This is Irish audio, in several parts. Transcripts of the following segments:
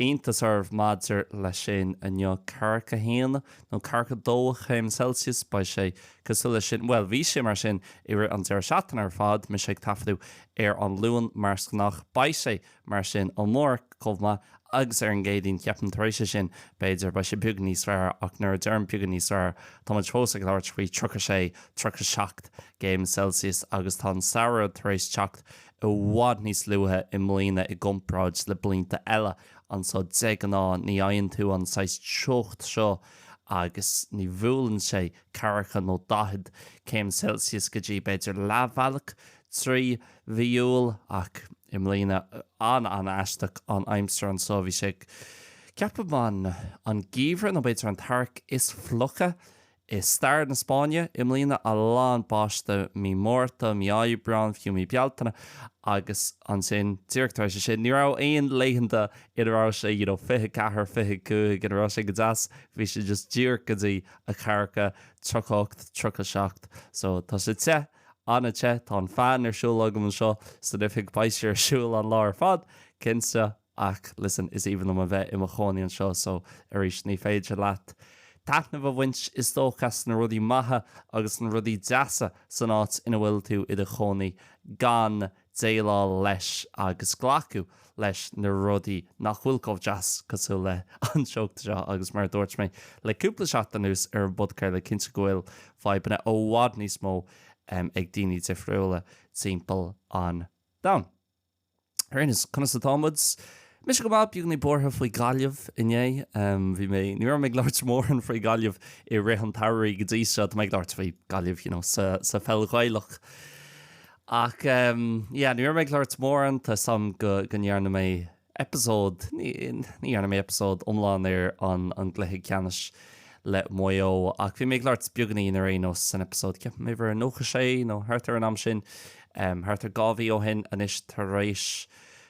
aon tsuim agaibh maidir leis sin inniu. Ceathracha 1 nó ceathracha 2 chéim Celsius, beidh sé cosúil leis sin, bhuel, bhí sé mar sin i rith an deireadh seachtaine ar fad, mise ag taifeadadh ar an Luan mar is gnách, beidh sé mar sin amárach chomh maith agus ar an gCéadaoin, ceapaim, tar éis é sin, b'fhéidir, beidh sé beagán níos fearr ach nuair a deirim beagán níos fearr, tá muid fós ag labhairt faoi 36, 37 gcéim Celsius agus tá an samhradh tar éis teacht i bhfad níos luaithe i mbliana i gcomparáid le blianta eile, anso de ghnáth ní fhaigheann tú an saghas teocht seo agus ní bhuaileann sé ceathracha nó daichead céim Celsius go dtí b'fhéidir leathbhealach trí mhí Iúil ach i mbliana an an aisteach an aimsir anso bhí sé ceapaim an an geimhreadh nó b'fhéidir an t-earrach is fliucha i stair na Spáinne i mbliana, a lán báisteach mí Márta, mí Aibreán, fiú mí Bealtaine agus ansin díreach tar éis é sin ní raibh aon laethanta ina raibh sé you know 24, 25 ina raibh sé go deas, bhí sé just díreach go dtí a ceathracha, 38, 37 so tá sé te, an-te, tá an fan ar siúl agam anseo san oifig beidh sé ar siúl an lá ar fad cinnte. Ach, listen, is aoibhinn liom a bheith i mo chónaí anseo so, arís, ní féidir leat taitneamh a bhaint is dócha as na rudaí maithe agus na rudaí deasa san áit ina bhfuil tú i do chónaí gan déileáil leis agus glacadh leis na rudaí nach bhfuil chomh deas cosúil le an teocht seo agus mar a dúirt mé le cúpla seachtain anuas ar an bpodchraoladh cinnte go bhfuil fadhbanna i bhfad níos mó ag daoine difriúla timpeall an domhain. Ar aon nós, conas atá muid? Mise go maith, beagáinín buartha faoi Gaillimh inné. Bhí mé, ní raibh mé ag labhairt mórán faoi Ghaillimh i rith an tsamhraidh go dtí seo. Tá mé ag labhairt faoi Gaillimh, you know, sa, sa pheil Ghaelach. Ach, yeah, ní raibh mé ag labhairt mórán. Tá a fhios agam go, go ndearna mé eipeasóid, ní, ní dhearna mé eipeasóid iomlán ar an, an gcluiche ceannais. le Maigh Eo. Ach bhí mé ag labhairt beagáinín ar aon nós san eipeasóid, ceapaim uimhir a 96 nó thart ar an am sin, thart ar dhá mhí ó shin anois, tar éis,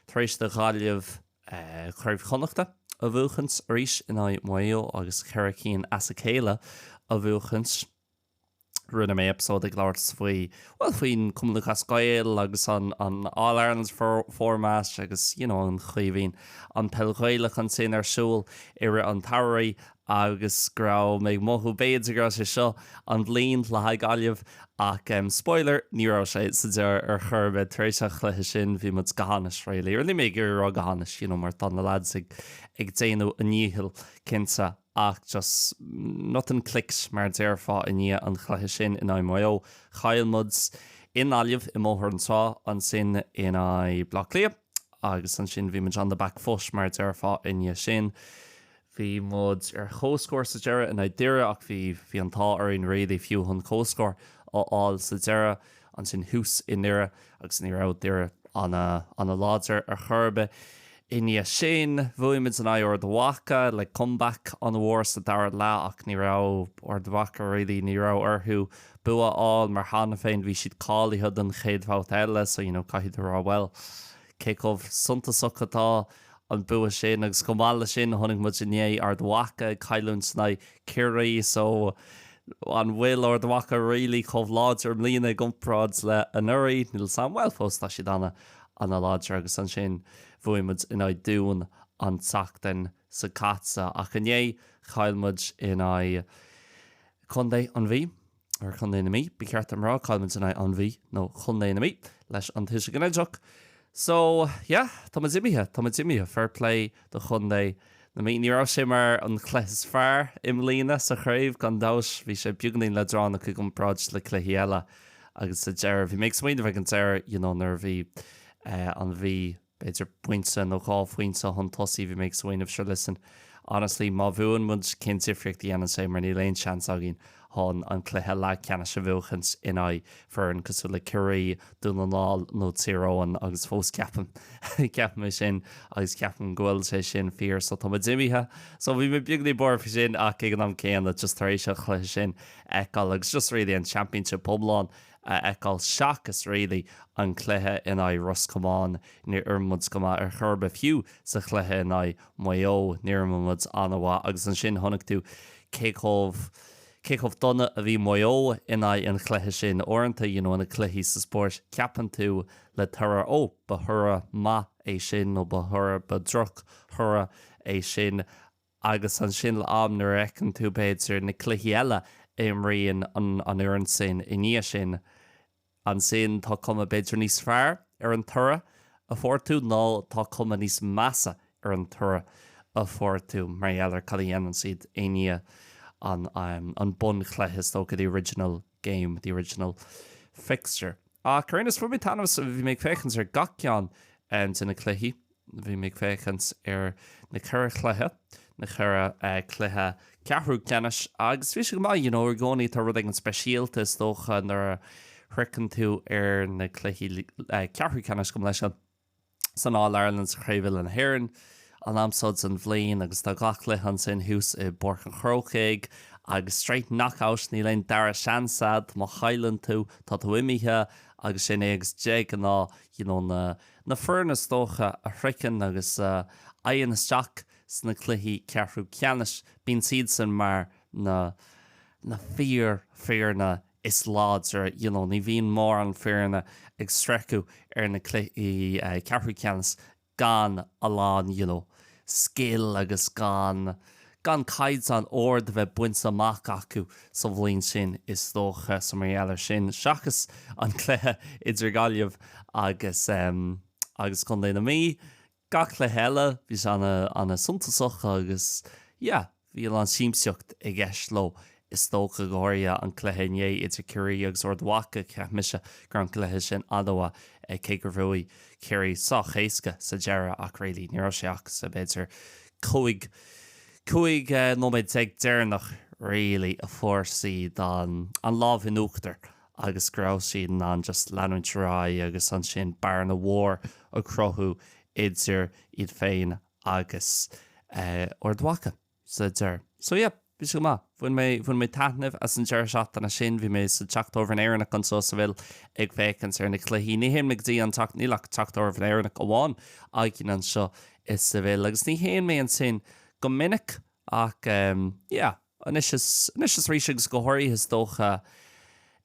tar éis do Ghaillimh Craobh Chonnachta a bhuachaint arís in aghaidh Maigh Eo agus ceithre cinn as a céile a bhuachaint. rinne mé eipeasóid ag labhairt faoi, bhuel, faoin Cumann Lúthchleas Gael agus an All Ireland format agus you know an chaoi a mbíonn an Peil Ghaelach ansin ar siúl i rith an tsamhraidh agus go raibh mé ag mothú b'fhéidir go raibh sé seo an bhliain le haghaidh Gaillimh ach em spoiler ní raibh sé sa deireadh ar chor ar bith, tar éis an chluiche sin bhí muid go hainnis really, or níl mé ag iarraidh a rá go hainnis you know mar tá na lads ag ag déanamh a ndíchill cinnte. ach just nothing clicked mar a déarfá i ndiaidh an chluiche sin in aghaidh Maigh Eo. Chaill muid i nGaillimh, i mBóthar an Trá, ansin in aghaidh Bhleá Cliath agus ansin bhí muid on the back foot mar a déarfá i ndiaidh sin. Bhí muid ar comhscór sa deireadh in aghaidh Dhoire ach bhí bhí an t-ádh orainn really fiú chun comhscór a fháil sa deireadh. ansin thuas i nDoire agus ní raibh Doire an-láidir ar chor ar bith i ndiaidh sin. Bhuaigh muid in aghaidh Ard Mhacha le comeback an-mhór sa dara leath ach ní raibh Ard Mhacha really, ní raibh orthu bua a fháil mar cheana féin, bhí siad cáilithe don chéad bhabhta eile so you know caithfidh tú rá bhuel, cé chomh suntasach atá an bua sin agus chomh maith leis sin chonaic muid inné Ard Mhacha ag cailliúint in aghaidh Chiarraí so an bhfuil Ard Mhacha really chomh láidir i mbliana i gcomparáid le anuraidh? Níl 'fhios a'm, bhuel fós tá siad ana, ana láidir agus ansin bhuaigh muid in aghaidh Dún an tseachtain seo caite ach inné chaill muid in aghaidh contae an Mhí. or Chontae na Mí, ba cheart dom a rá, chaill muid in aghaidh an Mhí, nó Chontae na Mí, leis an tuiseal ginideach. So, yeah, tá muid imithe, tá muid imithe. Fair play do Chontae na Mí. Ní raibh sé mar an chluiche is fearr i mbliana sa chraobh, gan dabht. Bhí sé beagáinín leadránach i gcomparáid le cluichí eile agus sa deireadh, bhí mé ag smaoineamh ag an deireadh, you know, nuair a bhí an Mhí b'fhéidir pointe nó dhá phointe chun tosaigh, bhí mé ag smaoineamh sure listen, honestly má bhuann muid cén difríocht a dhéanann sé mar níl aon seans againn chun an cluiche leathcheannais a bhuachaint in aghaidh foireann cosúil le Ciarraí, Dún na nGall nó Tír Eoghain agus fós ceapaim, ceapaim é sin agus ceapaim go bhfuil sé sin fíor so tá muid imithe so bhí mé beagáinín buartha faoi sin ach ag an am céanna just tar éis an chluiche sin a fheiceáil agus just really an championship iomlán. a fheiceáil seachas really an cluiche in aghaidh Ros Comáin ní raibh muid go maith ar chor ar bith fiú sa chluiche in aghaidh Maigh Eo ní raibh muid an-mhaith agus ansin chonaic tú cé chomh cé chomh dona a bhí Maigh Eo in aghaidh an chluiche sin uaireanta you know na cluichí sa spórt ceapann tú le toradh ó ba thoradh maith é sin nó ba thoradh ba droch thoradh é sin a agus ansin le am nuair a fheiceann tú b'fhéidir na cluichí eile a imríonn an an fhoireann sin i ndiaidh sin ansin tá cuma b'fhéidir níos fearr ar an toradh a fuair tú nó tá cuma níos measa ar an toradh a fuair tú mar gheall ar cad a dhéanann siad i ndiaidh an an bunchluiche is dócha the original game, the original fixture. Ach ar aon nós bhain mé taitneamh as, bhí mé ag féachaint ar gach ceann de na cluichí, bhí mé ag féachaint ar na ceithre chluiche, na ceithre chluiche ceathrú ceannais agus bhí sé go maith, you know, i gcónaí tá rud éigin speisialta is dócha nuair a shroicheann tú ar na cluichí ceathrú ceannais, chomh maith leis sin. san All-Ireland sa Chraobh Uile na hÉireann an t-am seo den bhliain agus tá gach cluiche ansin thuas i bPáirc an Chrócaigh agus straight knock-out níl aon dara seans agat, má chailleann tú, tá tú imithe agus sin é agus de ghnáth you know na na foirne is dócha a shroicheann agus a fhaigheann isteach sna cluichí ceathrú ceannais bíonn siadsan mar na na fíor foirne is láidre you know ní bhíonn mórán foirne ag sroicheadh ar na cluichí ceathrú ceannais gan a lán you know scil agus gan gan caighdeán ard a bheith bainte amach acu sa bhliain sin is dócha so mar gheall ar sin seachas an cluiche idir Gaillimh agus agus contae na Mí gach cluiche eile. Bhí sé ana ana suntasach agus yeah bhí a lán siamsaíocht i gceist leo is dócha, go háirithe an cluiche inné idir Ciarraí agus Ard Mhacha. Cheap mise go raibh an cluiche sin ana mhaith eh cé gur bhuaigh Ciarraí sách éasca sa deireadh ach really ní raibh sé ach sa b'fhéidir cúig cúig eh nóiméad déag deireanach really a fuair siad an an lámh in uachtar agus go raibh siad in ann just leanúint ar aghaidh agus ansin bearna mhór a chruthú idir iad féin agus Ard Mhacha sa deireadh. So yeah, bhí sé go maith. Bhain mé, bhain mé taitneamh as an deireadh seachtaine sin. Bhí mé sa Teach Tábhairne Éireannach anseo sa bhaile ag féachaint ar na cluichí. Ní théann mé go dtí an Teach, níl ach Teach Tábhairne Éireannach amháin againn anseo sa bhaile agus ní théann mé ansin go minic ach yeah, anois is arís agus go háirithe is dócha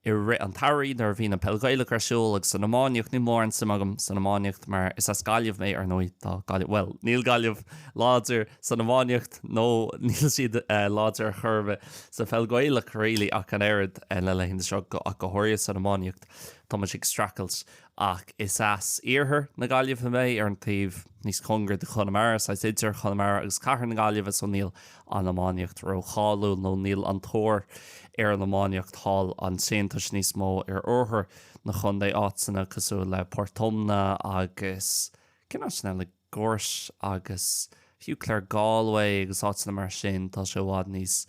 i rith an tsamhraidh nuair a bhíonn an peil Ghaelach ar siúl agus an iománaíocht, níl mórán suim agam san iománaíocht mar is as Gaillimh mé ar ndóigh, tá Gaillimh, bhuel níl Gaillimh láidir san iománaíocht nó níl siad láidir ar chor ar bith sa pheil Ghaelach really ach an oiread na laethanta seo ach go háirithe san iománaíocht tá muid ag streachailt ach is as iarthar na Gaillimhe mé, ar an taobh níos cóngaraí de Chonamara, saghas idir Chonamara agus cathair na Gaillimhe, so níl an iománaíocht ró-cháiliúil nó níl an tóir ar an iománaíocht thall ansin. Tá sé níos mó ar oirthear na chontae, áiteanna cosúil le Port Omna agus cén áit eile? Gort agus fiú Clare Galway agus áiteanna mar sin, tá sé i bhfad níos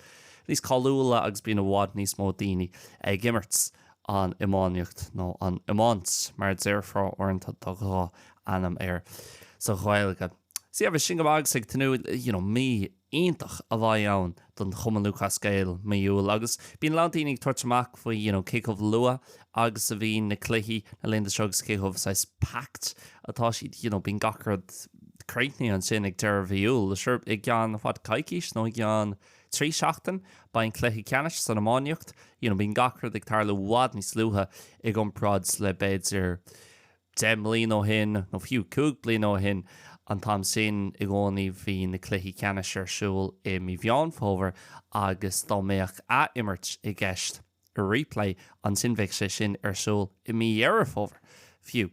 níos cáiliúla agus bíonn i bhfad níos mó daoine ag imirt an iománaíocht nó an iomáin, mar a déarfá uaireanta tá dhá ainm air sa Ghaeilge. Sea, bheith sin go maith agus ag tnúth, you know, mí iontach a bheidh ann don Chumann Lúthchleas Gael mí Iúil agus bíonn a lán daoine ag tabhairt amach faoi you know cé chomh luath agus a bhíonn na cluichí na laethanta seo agus cé chomh saghas packed atá siad you know bíonn gach rud críochnaithe ansin ag deireadh mhí Iúil sure i gceann fad coicís nó i gceann trí seachtain beidh an cluiche ceannais san iománaíocht you know bíonn gach rud ag tarlú i bhfad níos luaithe i gcomparáid le b'fhéidir deich mbliana ó shin, nó fiú cúig bliana ó shin an t-am sin i gcónaí, bhí na cluichí ceannais ar siúl i mí Mheán Fómhair agus dá mbeadh ath-imirt i gceist, replay, ansin bheadh sé sin ar siúl i mí Dheireadh Fómhair fiú.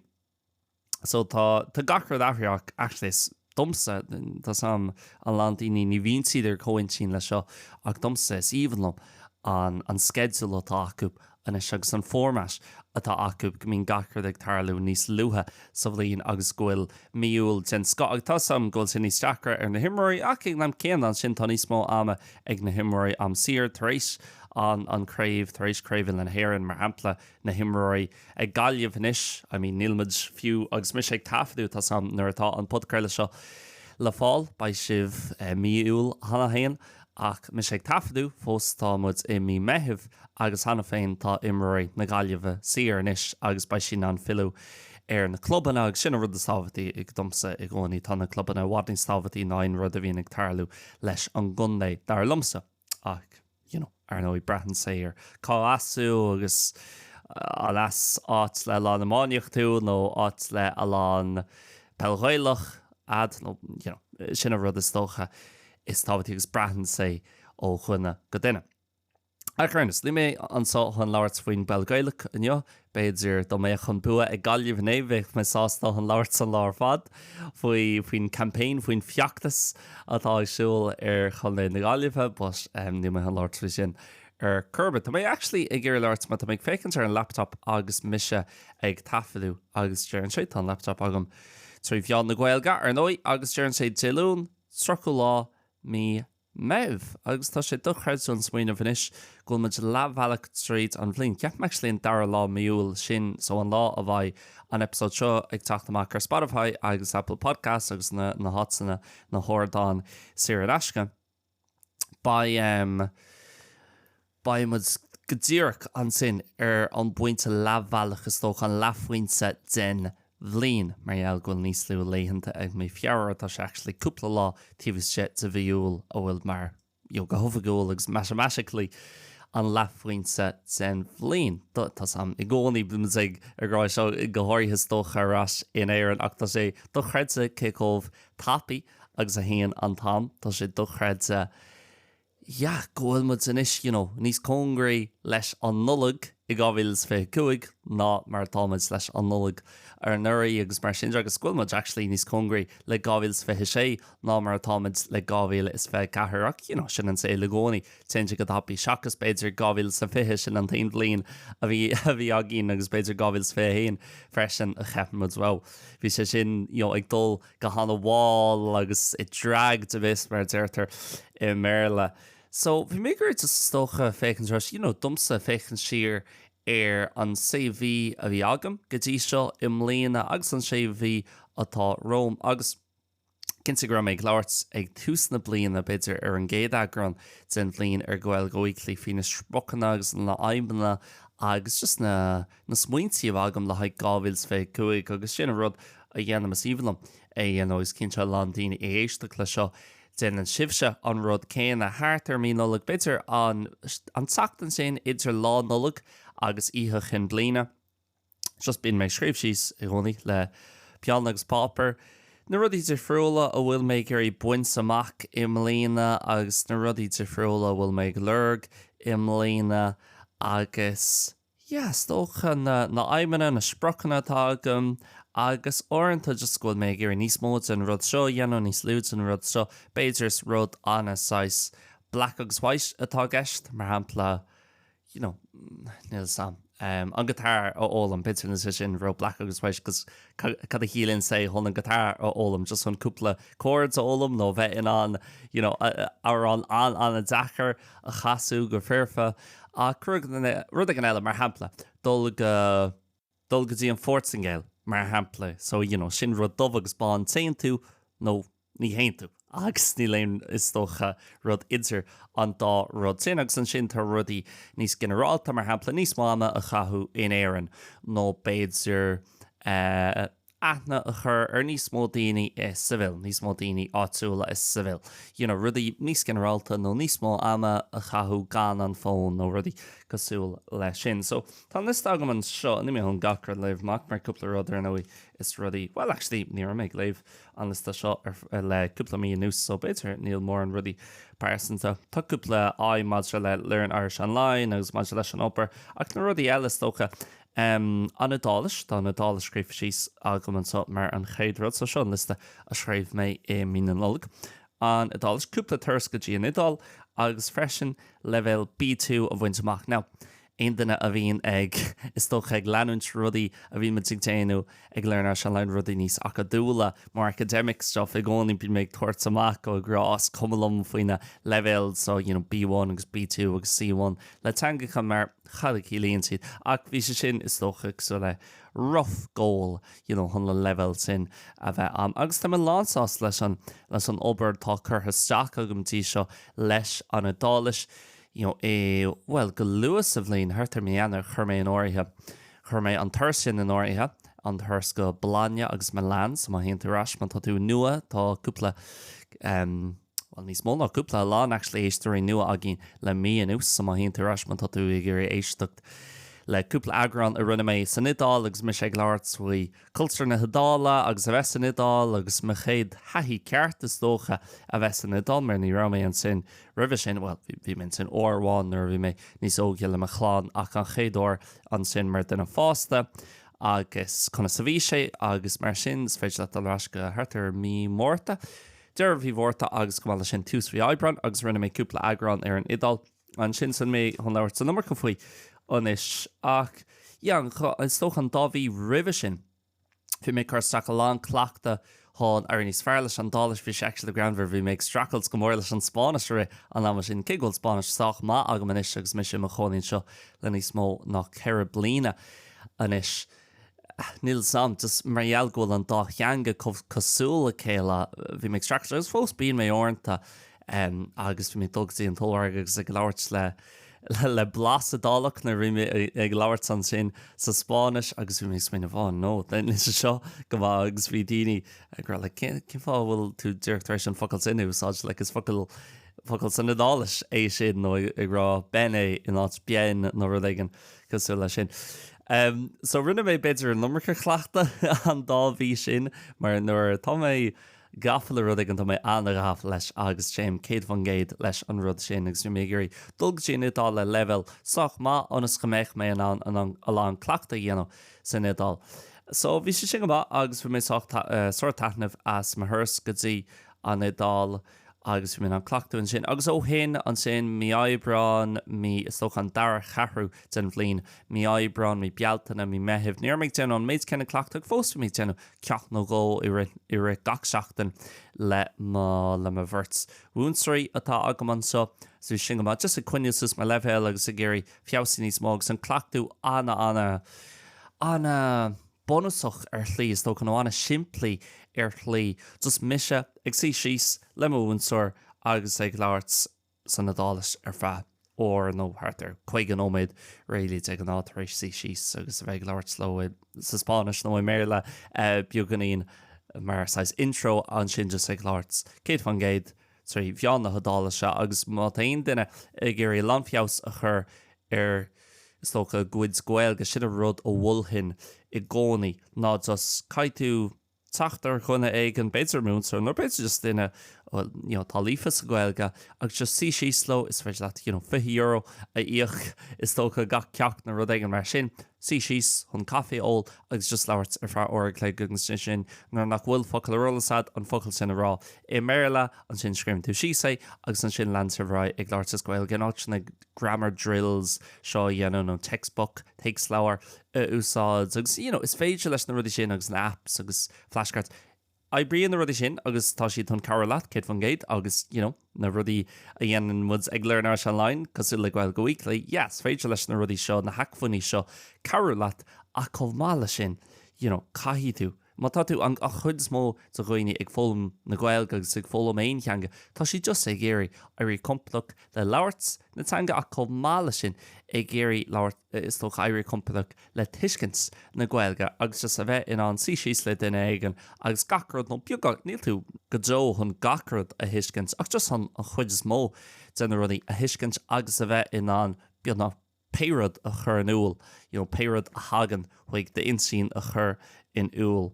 So tá gach rud athraithe actually, domsa, tá a fhios agam a lán daoine, ní bhíonn siad ar comhintinn leis seo ach domsa is aoibhinn liom an sceideal atá acu anois agus an format atá acu go mbíonn gach rud ag tarlú níos luaithe sa bhliain agus go bhfuil mí Iúil den scoth agus tá a fhios agam go bhfuil sé níos deacra ar na himreoirí ach ag an am céanna ansin tá níos mó ama ag na himreoirí am saor tar éis an an craobh, tar éis Craobh Uile na hÉireann, mar shampla, na himreoirí ag Gaillimh anois, I mean níl muid fiú agus mise ag taifeadadh tá a fhios agam, nuair atá an podchraoladh seo le fáil beidh sibh mí Iúil a haon Ach mise ag taifeadadh, fós tá muid i mí Meithimh agus cheana féin tá imreoirí na Gaillimhe saor anois agus beidh siad in ann filleadh ar na clubanna agus sin an rud is tábhachtaí domsa i gcónaí. Tá na clubanna i bhfad níos tábhachtaí ná aon rud a bhíonn ag tarlú leis an gcontae, dar liomsa, ach you know ar ndóigh braitheann sé ar cá as tú agus an as áit le a lán iománaíocht tú nó áit le a lán peil Ghaelach, thú nó you know sin an rud is dócha is tábhachtaí agus braitheann sé ó dhuine go duine. Ach ar aon nós, níl mé anseo chun labhairt faoin bpeil Gaelach inniu, b'fhéidir dá mbeadh an bua ag Gaillimh inné bheadh mé sásta chun labhairt an lá ar fad faoi, faoin campaign, faoin feachtas atá ar siúl ar chontae na Gaillimhe but níl mé chun labhairt faoi sin ar chor ar bith. Tá mé actually ag iarraidh labhairt mar tá mé ag féachaint ar an laptop agus mise ag taifeadadh agus deireann sé, tá an laptop agam trí mheán na Gaeilge ar ndóigh, agus deireann sé Dé Luain, 30 lá mí Meitheamh agus tá sé dochreidte ag smaoineamh anois go bhfuil muid leathbhealach tríd an bhliain. Ceapaim actually an dara lá mí Iúil, sin so an lá a bheidh an eipeasóid seo ag teacht amach ar Spotify agus Apple Podcasts agus na háiteanna, na hardáin saor in aisce. Beidh em. Beimid go díreach ansin ar an bpointe leathbhealach is dócha, an leathphointe den bhliain, mar gheall go bhfuil níos lú laethanta ag mí Feabhra, tá sé actually cúpla lá taobh istigh de mhí Iúil a bhfuil mar, you know, go hoifigiúil agus matamatically an leathphointe den bhliain. Tá 's a'm i gcónaí, bímid ag rá seo go háirithe is dócha ar ais in Éirinn ach tá sé dochreidte cé chomh tapaidh agus a théann an t-am, tá sé dochreidte. yeah go bhfuil muid anois you know níos cóngaraí leis an Nollaig i 2025 ná mar atá muid leis an Nollaig anuraidh agus mar sin de agus go bhfuil muid actually níos cóngaraí le 2026 ná mar atá muid le 2024 ach you know sin an saol i gcónaí téann sé go tapaidh seachas b'fhéidir 2020 sin an t-aon bhliain a bhí a bhí againn agus b'fhéidir 2021 freisin a cheap muid wow bhí sé sin you know ag dul go han-mhall agus it dragged a bit mar a deirtear i mBéarla. So bhí mé ag iarraidh just is dócha féachaint ar ais, you know, domsa féachaint siar ar an sé mhí a bhí agam go dtí seo i mbliana agus an sé mhí atá romham agus Cinnte go raibh mé ag labhairt ag tús na bliana b'fhéidir ar an gcéad eagrán den bhliain ar Gaeilge Weekly faoi na spriocanna agus na aidhmeanna agus just na na smaointe a bhí agam le haghaidh 2025 agus sin an rud a dhéanaim, is aoibhinn liom é a dhéanamh agus cinnte a lán daoine ag éisteacht leis seo, déanann sibhse an rud céanna. Thart ar mí Nollag, b'fhéidir an an tseachtain sin idir Lá Nollag agus Oíche Chinn Bliana, just bíonn mé ag scríobh síos i gcónaí le peann agus páipéar na rudaí difriúla a bhfuil mé ag iarraidh baint amach i mbliana agus na rudaí difriúla a bhfuil mé ag lorg i mbliana agus is dócha, na aidhmeanna, na spriocanna atá agam agus uaireanta just go bhfuil mé ag iarraidh níos mó den rud seo a dhéanamh, níos lú den rud seo. B'fhéidir is rud ana saghas black agus white atá i gceist, mar shampla, you know, níl 'fhios a'm, em, an guitar a fhoghlaim, b'fhéidir ní hé sin rud black agus white cos cad a chiallaíonn sé chun an guitar a fhoghlaim, just chun cúpla chords a fhoghlaim nó bheith in ann, you know, amhrán an-ana-deacair, a chasadh go foirfe, ach rud éigin eile, mar shampla, dul go, dul go dtí an Phortaingéil, mar shampla, so, you know, sin rud dubh agus bán, téann tú nó ní théann tú agus níl aon, is dócha, rud idir an dá rud sin agus ansin tá rudaí níos ginearálta, mar shampla, níos mó ama a chaitheamh in Éirinn nó b'fhéidir, eh, aithne a chur ar níos mó daoine i Seville, níos mó daoine áitiúla i Seville, you know rudaí níos ginearálta nó níos mó ama a chaitheamh gan an fón nó rudaí cosúil leis sin. So tá an liosta agam anseo, níl mé chun gach rud léamh amach mar cúpla rud ar ndóigh is rudaí, bhuel actually ní raibh mé ag léamh an liosta seo le cúpla mí anuas so b'fhéidir níl mórán rudaí pearsanta. Tá cúpla aidhm maidir le Learn Irish Online agus maidir leis an obair ach na rudaí eile is dócha, Um an Iodáilis, Tá an Iodáilis scríofa síos agam anseo mar an chéad rud, so seo an liosta a scríobh mé i mí na Nollag. An Iodáilis, cúpla turas go dtí an Iodáil agus freisin leibhéal B2 a bhaint amach. Now, aon duine a bhíonn ag, is dócha, ag leanúint rudaí a bhíonn muid ag déanamh ag Learn Irish Online rudaí níos acadúla, more academic stuff, i gcónaí bíonn mé ag tabhairt amach go, ag rá is cuma liom faoi na leibhéal so you know B1 agus B2 agus C1 le teangacha mar cad a chiallaíonn siad ach bhí sé sin is dócha saghas like rough goal you know chun an leibhéal sin a bheith agam agus tá mé lánsásta leis an leis an obair tá curtha isteach agam go dtí seo leis an Iodáilis you know i bhuel go luath sa bhliain thart ar mí Eanáir chuir mé in áirithe Chuir mé an turas sin in áirithe, an turas go Bologna agus Milan, so má théann tú ar ais, má tá tú nua, tá cúpla, em, bhuel, níos mó ná cúpla, a lán, actually, éisteoirí nua againn le mí anuas, so má théann tú ar ais, má tá tú ag iarraidh éisteacht le cúpla eagrán a rinne mé san Iodáil agus mise ag labhairt faoi Cultúr na hIodáile agus a bheith san Iodáil agus mo chéad thaithí ceart is dócha a bheith san Iodáil mar ní raibh mé ansin roimhe sin, bhuel, bhí mé ansin uair amháin nuair a bhí mé níos óige le mo chlann ach an chéad uair ansin mar dhuine fásta agus conas a bhí sé agus mar sin, is féidir leat dul ar ais go thart ar mí Márta, deireadh mhí Mhárta agus chomh maith leis sin tús mhí Aibreáin agus rinne mé cúpla eagrán ar an Iodáil. Ansin so níl mé chun labhairt an iomarca faoi anois ach yeah is dócha an dá mhí roimhe sin bhí mé ag cur isteach a lán cleachta chun éirí níos fearr leis an Iodáilis, bhí sé actually like greannmhar bhí mé ag streachailt go mór leis an Spáinnis i rith an ama sin cé go bhfuil Spáinnis sách maith agam anois agus mise i mo chónaí anseo le níos mó ná ceithre bliana anois. Nílim, um, just mar gheall go bhfuil an dá theanga chomh cosúil le chéile. Bhí mé ag streachailt agus fós bíonn mé uaireanta em agus bhí mé ag dul go dtí an t-ollmhargadh agus ag labhairt le le blas Iodálach nuair a bhí mé ag labhairt ansin sa Spáinnis agus bhí mé ag smaoineamh oh no níl sé seo go maith agus bhí daoine ag rá like cén fáth a bhfuil tú díreach tar éis an focal sin a úsáid like is focal focal san Iodáilis é sin nó ag rá bene in áit bien nó rud éigin. Cosúil leis sin. So rinne mé b'fhéidir an iomarca cleachtaidh an dá mhí sin mar nuair atá mé gafa le rud éigin tá mé an-ghafa leis agus téim 100% leis an rud sin agus bhí mé ag iarraidh dul go dtí an Iodáil le leibhéal sách maith ionas go mbeadh mé in ann a lán cleachtaidh a dhéanamh san Iodáil. So bhí sé sin go maith agus bhain mé sár-taitneamh as mo thuras go dtí an Iodáil. Agus bhí mé in ann cleachtadh ansin. Agus ó shin, ansin, mí Aibreáin, mí, is dócha, an dara cheathrú den bhliain, mí Aibreáin, mí Bealtaine, mí Meithimh, ní raibh mé ag déanamh an méid céanna cleachtaidh ach fós bhí mé ag déanamh ceacht nó dhó i rith, i rith gach seachtain le mo, le mo bheirt mhúinteoirí atá agam anseo. So bhí sin go maith. Just ag coinneáil suas mo leibhéal agus ag iarraidh feabhsú níos mó agus an cleachtadh ana, ana, ana, bunúsach ar shlí, is dócha, nó an-simplí ar shlí. Just mise ag suí síos le mo mhúinteoir agus ag labhairt san Iodáilis ar feadh uair nó thart ar 50 nóiméad really de ghnáth tar éis suí síos agus a bheith ag labhairt leo sa Spáinnis nó i mBéarla beagáinín mar saghas intro ansin just ag labhairt 100% trí mheán na hIodáile sea, agus má tá aon duine ag iarraidh a lán feabhas a chur ar, is dócha, a gcuid Gaeilge, sin an rud a mholfainn i gcónaí, ná just, caithfidh tú teacht ar dhuine éigin, b'fhéidir múinteoir, nó b'fhéidir just duine a bhfuil, you know, atá líofa sa Ghaeilge, agus just suí síos leo, is féidir leat, you know, fiche euro a íoc, is dócha, gach ceacht nó rud éigin mar sin, suí síos chun caife a ól agus just labhairt ar feadh uair an chloig agus ansin nuair nach bhfuil focal ar eolas agat an focal sin a rá i mBéarla, ansin scríobhaim duit síos é agus ansin leanann tú ar aghaidh ag labhairt as Gaeilge in áit na grammar drills seo a dhéanamh nó textbook, téacsleabhar a úsáid agus you know is féidir leis na rudaí sin agus na apps agus flashcards. oibríonn na rudaí sin agus tá siad chun cabhrú leat, céad faoin gcéad, agus you know na rudaí a dhéanann muid ag Learn Irish Online, cosúil le Gaeilge Weekly, yeah, is féidir leis na rudaí seo, na hacmhainní seo cabhrú leat ach chomh maith leis sin, you know caithfidh tú, má tá tú, an chuid is mó de dhaoine ag foghlaim na Gaeilge agus ag foghlaim aon theanga, tá siad just ag iarraidh éirí compordach le labhairt na teanga ach chomh maith leis sin ag iarraidh labhairt, is dócha, éirí compordach le tuiscint na Gaeilge agus just a bheith in ann suí síos le duine éigin agus gach rud nó beagnach, níl tú go deo chun gach rud a thuiscint ach just an chuid is mó de na rudaí a thuiscint agus a bheith in ann beagnach pé rud a chur in iúl, you know pé rud a thagann chuig d'intinn a chur in iúl.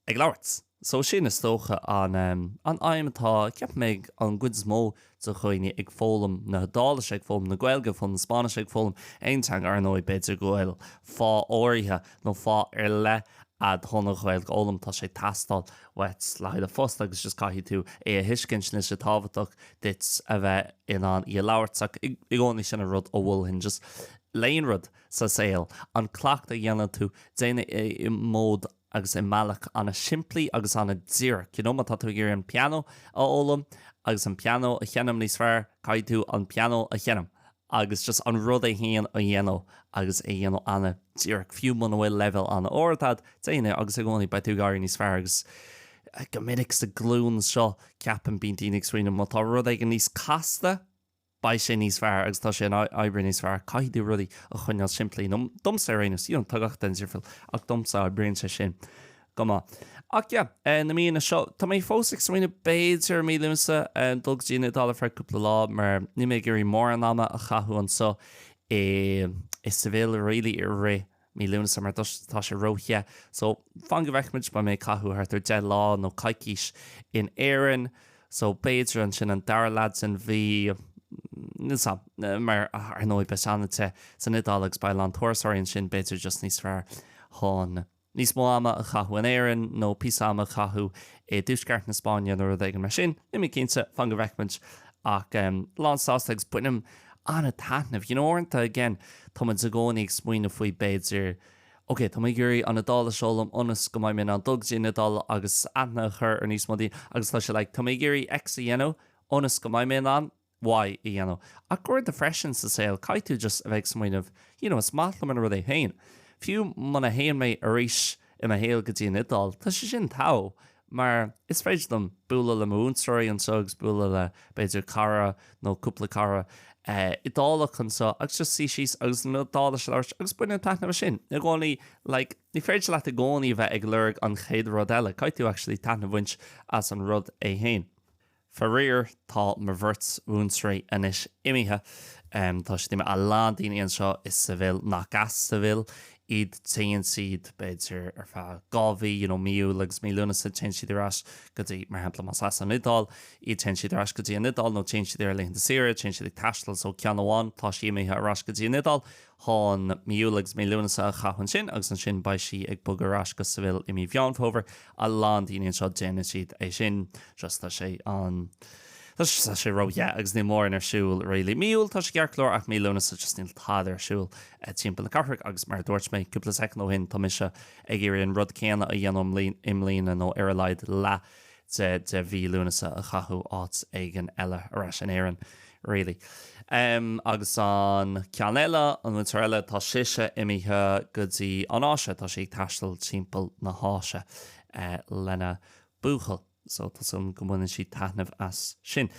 ag labhairt. So sin, is dócha, an an aidhm atá, ceapaim, ag an gcuid is mó de dhaoine ag foghlaim na hIodáilise, ag foghlaim na Gaeilge, ag foghlaim na Spáinnise, ag foghlaim aon teanga, ar ndóigh. B'fhéidir go bhfuil fáth áirithe nó fáth ar leith agat chun an Ghaeilge a fhoghlaim, tá sé ag teastáil uait le haghaidh do phost agus just caithfidh tú é a thuiscint, níl sé tábhachtach duit a bheith in ann í a labhairt. So i gcónaí sin an rud a mholfainn, just le haon rud sa saol, an cleachtadh a dhéanann tú, déan é i mód, agus i mbealach an-simplí agus an-díreach. You know, má tá tú ag iarraidh an pianó a fhoghlaim agus an pianó a sheinm níos fearr, caithfidh tú an pianó a sheinm agus just an rud é féin a dhéanamh agus é a dhéanamh an-díreach, fiú muna bhfuil leibhéal an-ard agat, déan é agus i gcónaí beidh tú ag éirí níos fearr agus go minic sa ghlúin seo, ceapaim, bíonn daoine ag smaoineamh má tá rud éigin níos casta, beidh sé níos fearr agus tá sé ag oibriú níos fearr. Caithfidh tú rudaí a choinneáil simplí, nó domsa ar aon nós, you know, tá gach duine difriúil ach domsa oibríonn sé sin go maith. Ach yeah, eh, na míonna seo, tá mé fós ag smaoineamh b'fhéidir mí Lúnasa eh, dul go dtí an Iodáil ar feadh cúpla lá mar níl mé ag iarraidh mórán ama a chaitheamh anseo i, i Seville really i rith mí Lúnasa mar tá sé ró-the so fan go bhfeicfimid beidh mé ag caitheamh thart ar 10 lá nó coicís in Éirinn so b'fhéidir ansin an dara leath den mhí mar ar ndóigh beidh sé an-te san Iodáil agus beidh a lán turasóirí ansin b'fhéidir just níos fearr chun níos mó ama a chaitheamh in Éirinn nó píosa ama a chaitheamh i dtuaisceart na Spáinne nó rud éigin mar sin. Níl mé cinnte, fan go bhfeicfimid ach lánsásta agus bainim an-taitneamh. You know uaireanta, again, tá muid i gcónaí ag smaoineamh faoi, b'fhéidir, ok, tá mé ag iarraidh an Iodáilis a fhoghlaim ionas go mbeidh mé in ann dul go dtí an Iodáil agus aithne a chur ar níos mó daoine agus tá sé like tá mé ag iarraidh X a dhéanamh ionas go mbeidh mé in ann Y a dhéanamh. Ach uaireanta freisin sa saol caithfidh tú just a bheith ag smaoineamh you know is maith liom an rud é féin. Fiú muna théann mé arís i mo shaol go dtí an Iodáil, tá sé sin togha. mar is féidir liom bualadh le mo mhúinteoirí anseo agus bualadh le, b'fhéidir, cara nó cúpla cara Iodálach anseo agus just suí síos agus an Iodáilis a labhairt agus bainim taitneamh as sin. I gcónaí, like, ní féidir leat i gcónaí a bheith ag lorg an chéad rud eile, caithfidh tú actually taitneamh a bhaint as an rud é féin. Faraor, tá mo bheirt mhúinteoirí anois imithe. Tá siad imithe, a lán daoine anseo i Seville nach as Seville iad. Téann siad, b'fhéidir, ar feadh dhá mhí, you know, mí Iúil agus mí Lúnasa, téann siad ar ais go dtí, mar shampla, más as an Iodáil iad, téann siad ar ais go dtí an Iodáil nó téann siad ar laethanta saoire, téann siad ag taisteal. So ceann amháin, tá sí imithe ar ais go dtí an Iodáil. mí Iúil agus mí Lúnasa a chaitheamh ansin agus ansin beidh sí ag bogadh ar ais go Seville i mí Mheán Fómhair. A lán daoine anseo déanann siad é sin. Just tá sé an. Tá sé tá sé róthe agus níl mórán ar siúl really. Mí Iúil tá sé ceart go leor ach mí Lúnasa just níl tada ar siúl timpeall na cathrach agus mar a dúirt mé cúpla seachtain ó shin tá mise ag iarraidh an rud céanna a dhéanamh i mbliana nó ar a laghad leath de mhí Lúnasa a chaitheamh áit éigin eile, ar ais in Éirinn, really. Em, agus an ceann eile, an mhúinteoir eile, tá sise imithe go dtí an Áise, tá sí ag taisteal timpeall na hÁise, eh, lena buachaill, so tá súil agam go mbaineann sí taitneamh as sin.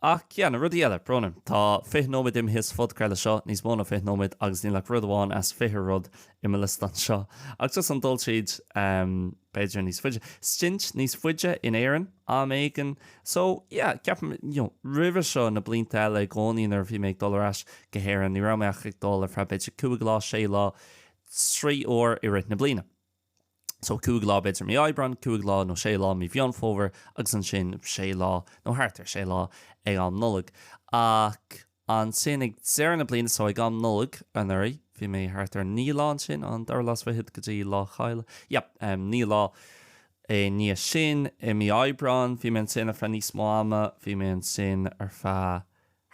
Ach, yeah, na rudaí eile, brón orm, tá fiche nóiméad imithe sa phodchraoladh seo, níos mó ná fiche nóiméad, agus níl ach rud amháin as fiche rud i mo liostán seo, ach just an dul tríd, em, b'fhéidir níos faide, stint níos faide in Éirinn am éigin. So, yeah, ceapaim, you know, roimhe seo, na blianta eile i gcónaí nuair a bhí mé ag dul ar ais go hÉirinn, ní raibh mé ach ag dul ar feadh b'fhéidir cúig lá, sé lá, trí uair i rith na bliana. So, cúig lá b'fhéidir mí Aibreáin, cúig lá nó sé lá mí Mheán Fómhair agus ansin sé lá nó thart ar sé lá ag an Nollaig. Ach. Ansin ag deireadh na bliana so, ag an Nollaig anuraidh, bhí mé thart ar naoi lá ansin, an dara lá sa bhfichead go dtí Lá Caille, yep, naoi lá i ndiaidh sin, i mí Aibreáin, bhí mé ansin ar feadh níos mó ama, bhí mé ansin ar feadh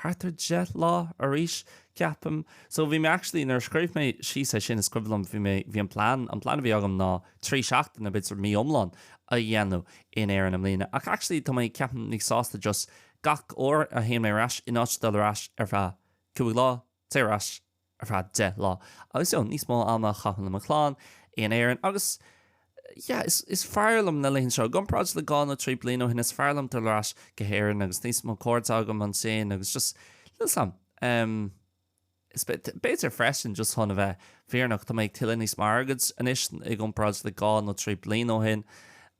thart ar deich lá arís, ceapaim. So bhí mé actually, nuair a scríobh mé síos é sin, is cuimhin liom, bhí mé, bhí an plean, an plean a bhí agam ná trí sheachtain, b'fhéidir mí iomlán a dhéanamh in Éirinn i mbliana ach actually tá mé, ceapaim, níos sásta just, Gach uair a théann mé ar ais, in áit dul ar ais ar feadh cúig lá, téigh ar ais ar feadh deich lá. Agus yeah, níos mó ama a chaitheamh le mo chlann in Éirinn agus yeah, is, is fearr liom na laethanta seo, i gcomparáid le dhá nó trí bliana ó shin, is fearr liom dul ar ais go hÉirinn agus níos mó compoird agam ansin agus just, listen, em. Is b'fhéidir freisin, just chun a bheith fírinneach, tá mé ag tuilleadh níos mó airgid anois i gcomparáid le dhá nó trí bliain ó shin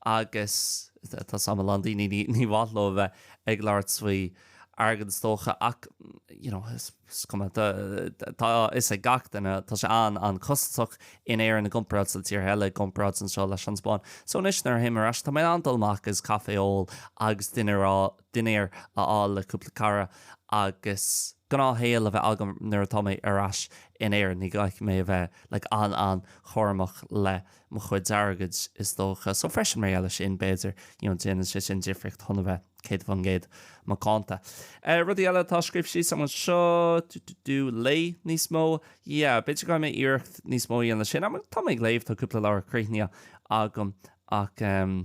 agus tá a fhios agam a lán daoine ní mhaith leo a bheith ag labhairt faoi airgead is dócha ach, you know, is cuma, tá a fhios ag gach duine, tá sé an-an-chostasach in Éirinn i gcomparáid le tíortha eile, i gcomparáid anseo leis an Spáinn. So anois nuair a théim ar ais tá mé in ann dul amach agus caife a ól agus dinnéar, dinnéar a fháil le cúpla cara agus gnáthshaol a bheith agam nuair atá mé ar ais in Éirinn. Ní chaithfidh mé a bheith like an-an-chúramach le mo chuid airgid is dócha. So freisin mar gheall ar sin b'fhéidir you know déanann sé sin difríocht chun a bheith 100% macánta. Rudaí eile atá scríofa síos agam anseo, tú tú tú, léigh níos mó. Yeah, b'fhéidir go gcaithfidh mé iarracht níos mó a dhéanamh leis sin. Tá mé ag léamh, tá cúpla leabhar críochnaithe agam ach ehm,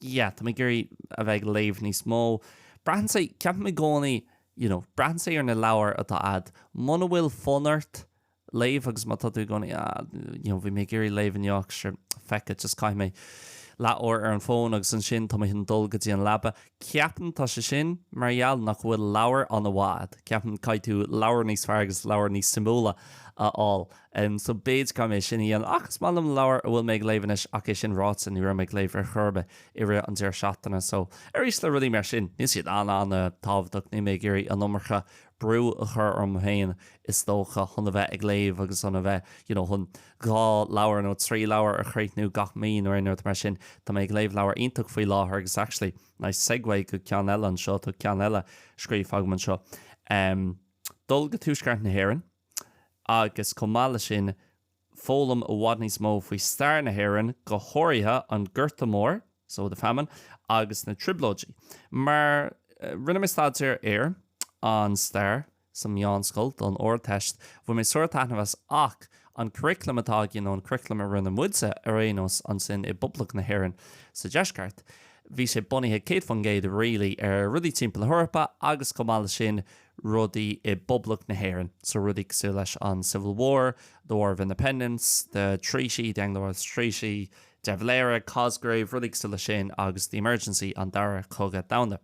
Yeah, tá mé ag iarraidh a bheith ag léamh níos mó. Braitheann sé, ceapaim i gcónaí, you know, braitheann sé ar an leabhar atá agat. Muna bhfuil fonn ort léamh agus má tá tú i gcónaí, ah, you know, bhí mé ag iarraidh léamh anocht sure, feck it, just caithfidh mé leath uair ar an bhfón agus ansin tá mé chun dul go dtí an leaba. Ceapaim tá sé sin mar gheall nach bhfuil leabhar an-mhaith agat. Ceapaim caithfidh tú leabhar níos fearr agus leabhar níos suimiúla a fháil. Em so b'fhéidir caithfidh mé é sin a dhéanamh ach is maith liom leabhar a bhfuil mé ag léamh anois ach é sin ráite ní raibh mé ag léamh ar chor ar bith i rith an deireadh seachtaine so arís le rudaí mar sin níl siad an-an-tábhachtach níl mé ag iarraidh an iomarca brú a chur orm féin is dócha chun a bheith ag léamh agus chun a bheith you know chun dhá leabhar nó trí leabhar a chríochnú gach mí nó aon rud mar sin tá mé ag léamh leabhar iontach faoi láthair agus actually nice segue go ceann eile anseo tá ceann eile scríofa agam anseo em dul go Tuaisceart na hÉireann agus chomh maith leis sin foghlaim i bhfad níos mó faoi stair na hÉireann, go háirithe an Gorta Mór, so the Famine, agus na Trioblóidí. Mar rinne mé staidéar ar an stair sa mheánscoil don Ardteist, bhain mé sárthaitneamh as ach an curriculum atá againn, nó an curriculum a rinne muidse ar aon nós ansin i bPoblacht na hÉireann sa deisceart, bhí sé bunaithe céad faoin gcéad really ar rudaí timpeall na hEorpa agus chomh maith leis sin rudaí i bPoblacht na hÉireann, so rudaí cosúil leis an Civil War, the War of Independence, the Treaty, the Anglo-Irish Treaty, De Valera, Cosgrave, rudaí cosúil leis sin agus the Emergency, an Dara Cogadh Domhanda.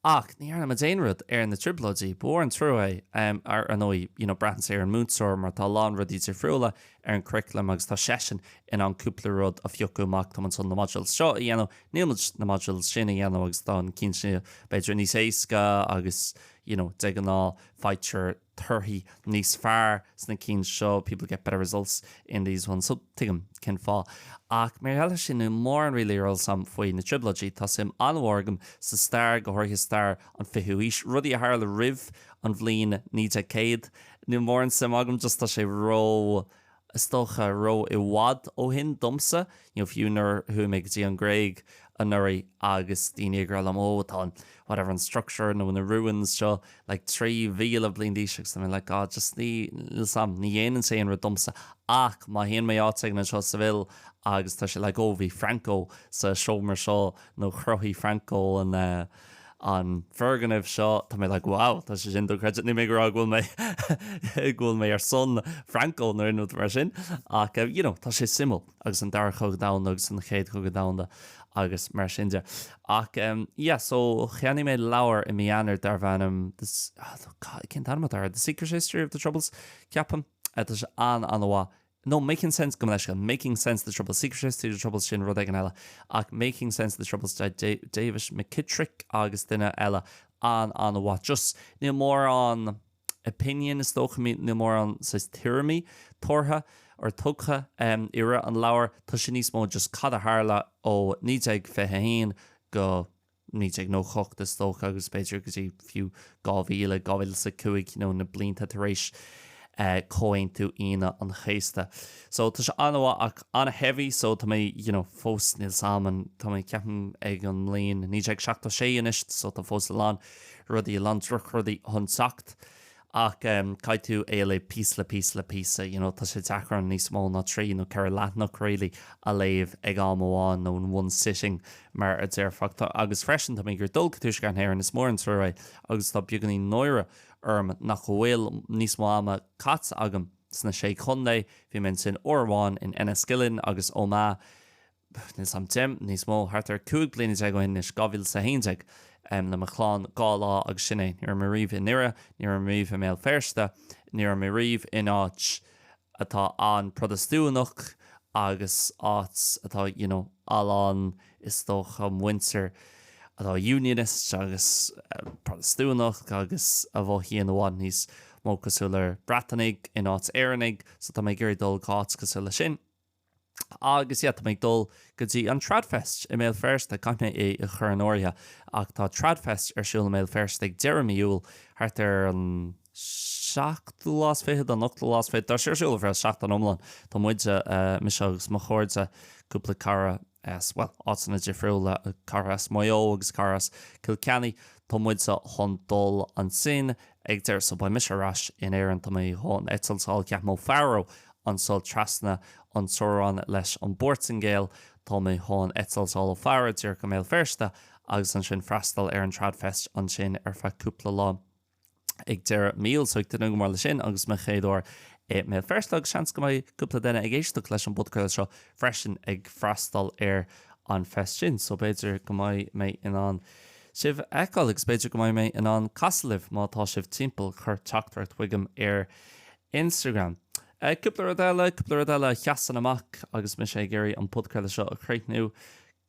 Ach ní dhearna muid aon rud ar na Trioblóidí. Ba mhór an trua é. Ar ndóigh, you know, braitheann sé ar an múinteoir mar tá a lán rudaí difriúla ar an curriculum agus tá seisean in ann cúpla rud a phiocadh amach, tá muid chun na modules seo a dhéanamh, Níl muid na modules sin a dhéanamh agus táim cinnte b'fhéidir níos éasca agus you know de ghnáth faightear torthaí níos fearr sna cinn seo, people get better results in these ones, so tuigim cén fáth. Ach mar gheall ar sin níl mórán really ar eolas agam faoi na trioblóidí, tá suim an-mhór agam sa stair, go háirithe stair an 20ú haois, rudaí a tharla roimh an bhliain 1900, níl mórán suim agam just tá sé ró is dócha, ró i bhfad ó shin domsa, you know fiú nuair a chuaigh mé go dtí an Ghréig anuraidh agus daoine ag rá liom oh tá an whatever an structure nó na ruins seo like trí mhíle bliain d'aois agus I'm like ah just ní níl suim ní dhéanann sé aon rud domsa ach má théann mé áit éigin anseo sa mbaile agus tá sé like oh bhí Franco sa seomra seo nó chruthaigh Franco an eh an foirgneamh seo. Tá mé like wow tá sé sin dochreidte. Níl mé ag rá go bhfuil mé go bhfuil mé ar son Franco nó aon rud mar sin ach you know tá sé suimiúil agus an Dara Cogadh Domhanda agus an Chéad Chogadh Domhanda agus mar sin de. Ach yeah so cheannaigh mé leabhar i mí Eanáir darb ainm the oh god cén t-ainm atá air? The Secret History of the Troubles ceapaim. Tá sé an-an-mhaith. no making sense gabh mo leithscéal making sense the troubles secret history of the troubles sin rud éigin eile ach making sense the troubles David McKittrick agus duine eile ana-mhaith just níl mórán opinion is dócha mí níl mórán saghas tuairimí tabhartha or tugtha i rith an leabhair tá sé níos mó just cad a tharla ó 1921 go 1998 is dócha, agus b'fhéidir go dtí fiú 2000, 2005 nó na blianta tar éis Chomhaontú Aoine an Chéasta. So, tá sé an-mhaith ach an-heavy so tá mé, you know, fós níl sam an, tá mé ceapaim ag an mbliain 1976 anois so tá fós a lán rudaí, a lán drochrudaí chun teacht ach caithfidh tú é a léamh píosa le píosa le píosa, you know, tá sé deacair níos mó ná trí nó ceithre leathanach really a léamh ag am amháin nó in one sitting mar a déarfá. Tá, agus freisin, tá mé ag iarraidh dul go Tuaisceart Éireann, is mór an trua é agus tá beagáinín náire orm nach bhfuil níos mó ama caite agam sna Sé Chontae, bhí mé ansin uair amháin in Enniskillen agus Omagh, níos, um, níos mó, thart ar 15 bliana ó shin anois, 2011, le mo chlann dhá lá agus sin é. Ní raibh mé riamh i nDoire, ní raibh mé riamh i mBéal Feirste, ní raibh mé riamh in áit atá an-Protastúnach agus áit atá you know a lán is dócha muintir atá Unionist agus Protastúnach agus a mhothaíonn i bhfad níos mó cosúil le Breatanaigh in áit Éireannaigh so tá mé ag iarraidh dul go áit cosúil leis sin. Agus, yeah, tá mé ag dul go dtí an Tradfest i mBéal Feirste. Caithfidh mé é a chur in áirithe. Ach tá Tradfest ar siúl i mBéal Feirste ag deireadh mí Iúil, thart ar an seachtú lá is fichead, an ochtú lá is fichead. Tá sé ar siúl ar feadh seachtain iomlán. Tá muide, mise agus mo chairde, cúpla cara, as, bhuel, áiteanna difriúla, cara as Maigh Eo agus cara as Cill Chainnigh, tá muide chun dul ansin ag deireadh, so beidh mise ar ais in Éirinn, tá mé chun eitleáil ceapaim ó Faro anseo trasna an teorainn leis an bPortaingéil, tá mé chun eitleáil ó Faro díreach go mBéal Feirste agus ansin freastal ar an Tradfest ansin ar feadh cúpla lá. ag deireadh mí Iúil, so ag tnúth go mór leis sin agus mo chéad uair i mBéal Feirste agus seans go mbeidh cúpla duine ag éisteacht leis an bpodchraoladh seo freisin ag freastal ar an fest sin, so b'fhéidir go mbeidh mé in ann sibh a fheiceáil agus b'fhéidir go mbeidh mé in ann casadh libh má tá sibh timpeall, cuir teachtaireacht chuigim ar Instagram. Cúpla rud eile, cúpla rud eile a sheasann amach agus mise ag iarraidh an podchraoladh seo a chríochnú,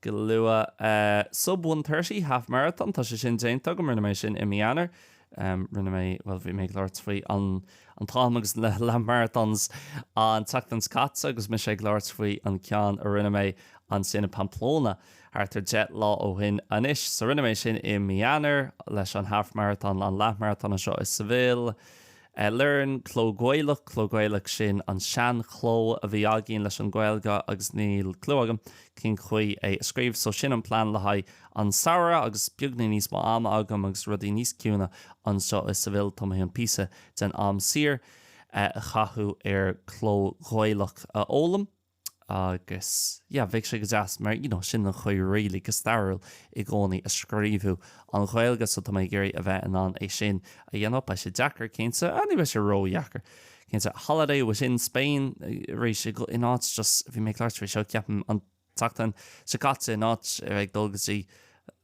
go luath. Sub 130, Half Marathon, tá sé sin déanta agam, rinne mé sin i mí Eanáir. Rinne mé, bhuel bhí mé ag labhairt faoi an an t-am agus na Leath Marathons an tseachtain seo caite agus mise ag labhairt faoi an ceann a rinne mé ansin i Pamplona thart ar deich lá ó shin anois. So rinne mé sin i mí Eanáir leis an Half Marathon, an Leath Marathon anseo i Seville. Learn Cló Gaelach, Cló Gaelach sin an sean chló a bhí againn leis an Ghaeilge agus níl clú agam cén chaoi é a scríobh so sin an plean le haghaidh an tsamhraidh agus beagáinín níos mó ama agam agus rudaí níos ciúine anseo i Seville tá mé chun píosa den am saor a chaitheamh ar Cló Gaelach a fhoghlaim. agus yeah bheadh sé go deas mar you know sin an chaoi really go stairiúil i gcónaí a scríobhadh an Ghaeilge so tá mé ag iarraidh a bheith in ann é sin a dhéanamh beidh sé deacair cinnte ach ní bheidh sé ródheacair cinnte holiday eile sa Spáinn arís so in áit just bhí mé ag labhairt faoi seo ceapaim an tseachtain seo caite in áit a bheith ag dul go dtí